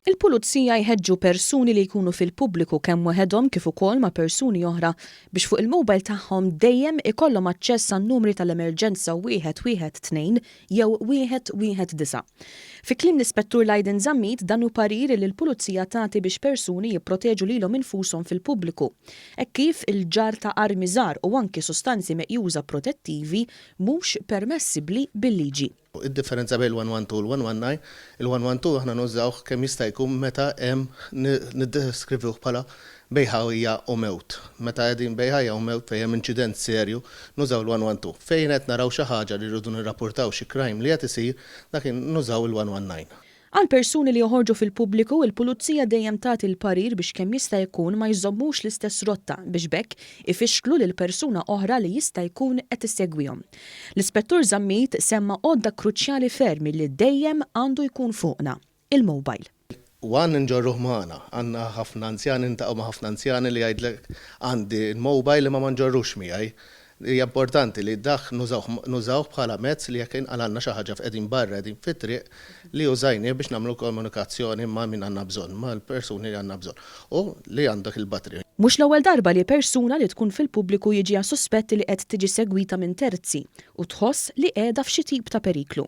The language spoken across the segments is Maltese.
Il-Pulizija jħeġġu persuni li jkunu fil-pubbliku kemm waħedhom kif ukoll ma' persuni oħra biex fuq il-mobile tagħhom dejjem ikollhom aċċess għan-numri tal-emerġenza 112 jew 119. Fi kliem l-Ispettur Lydon Zammit dan hu parir li l-Pulizija tagħti biex persuni jipproteġu lilhom infushom fil-pubbliku hekk kif il-ġarr ta' armi żgħar u anki sustanzi meqjuża protettivi mhux permessibbli bil-liġi. Id-differenza bejn il-112 u l-119, il-112 aħna nużawh kemm jista' jkun meta hemm niddeskrivih bħala bejn ħajja u mewt. Meta qegħdin bejn ħajja u mewt fejn hemm inċident serju, nużaw il-112. Fejn qed naraw xi ħaġa li rridu nirrapurtaw xi crime li qed isir, dak il-ħin nużaw il-119. Għal persuni li joħorġu fil-pubbliku, il-pulizija dejjem tagħti l-parir biex kemm jista' jkun ma jżommux l-istess rotta biex b'hekk ifixklu lil persuna oħra li jista' jkun qed issegwihom. L-Ispettur Zammit semma għodda kruċjali ferm li dejjem għandu jkun fuqna, il-mobile. U għandna nġorruh magħna. Għandna ħafna anzjani, niltaqgħu ma' ħafna anzjani li jgħidlek għandi l-mobile imma ma nġorrux miegħi. Hija importanti li dak nużawh nużawh bħala mezz li jekk inqalgħalna xi ħaġa f'qegħdin barra qegħdin fit-triq li użajnieh biex nagħmlu komunikazzjoni ma' min għandna bżonn, mal-persuni li għandna bżonn u li għandek il-batri. Mhux l-ewwel darba li persuna li tkun fil-pubbliku jiġiha suspett li qed tiġi segwita minn terzi u tħoss li qiegħda f'xi tip ta' periklu.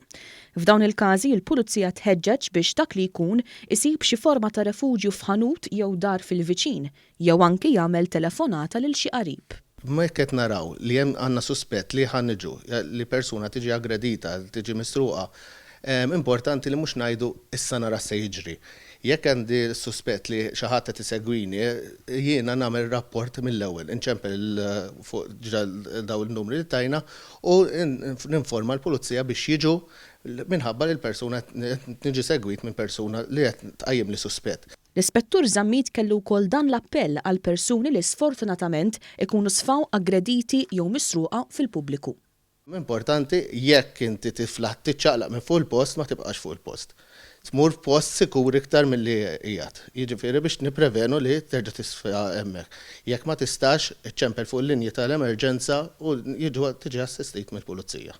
F'dawn il-każi, il-pulizija tħeġġeġ biex dak li jkun isib xi forma ta' refuġju f'ħanut jew dar fil-viċin Jew anki jagħmel telefonata lil xi qarib. Imma jekk qed naraw li hemm għandna suspett li ħa niġu, li persuna tiġi aggredita, tiġi misruqa, importanti li mhux ngħidu issa nara x'se jiġri. Jekk għandi suspett li xi ħadd qed isegwini, jiena nagħmel rapport mill-ewwel, inċempel il fuq diġà dawn in-numri li tajna u ninforma l-pulizija biex jiġu minħabba li l-persuna qed niġi segwit minn persuna li qed tqajjimli suspett. L-Ispettur Zammit kellu wkoll dan l-appell għal persuni li sfortunatament ikunu sfaw aggrediti jew misruqa fil-pubbliku. Importanti, jekk inti tiflaħ tiċċaqlaq minn fuq il-post ma tibqax fuq il-post. Tmur f'post sikur iktar milli qiegħed. Jiġifieri biex nipprevenu li terġa' tisfa hemmhekk. Jekk ma tistax, iċċempel fuq il-linji tal-emerġenza u tiġi assistit mill-pulizija.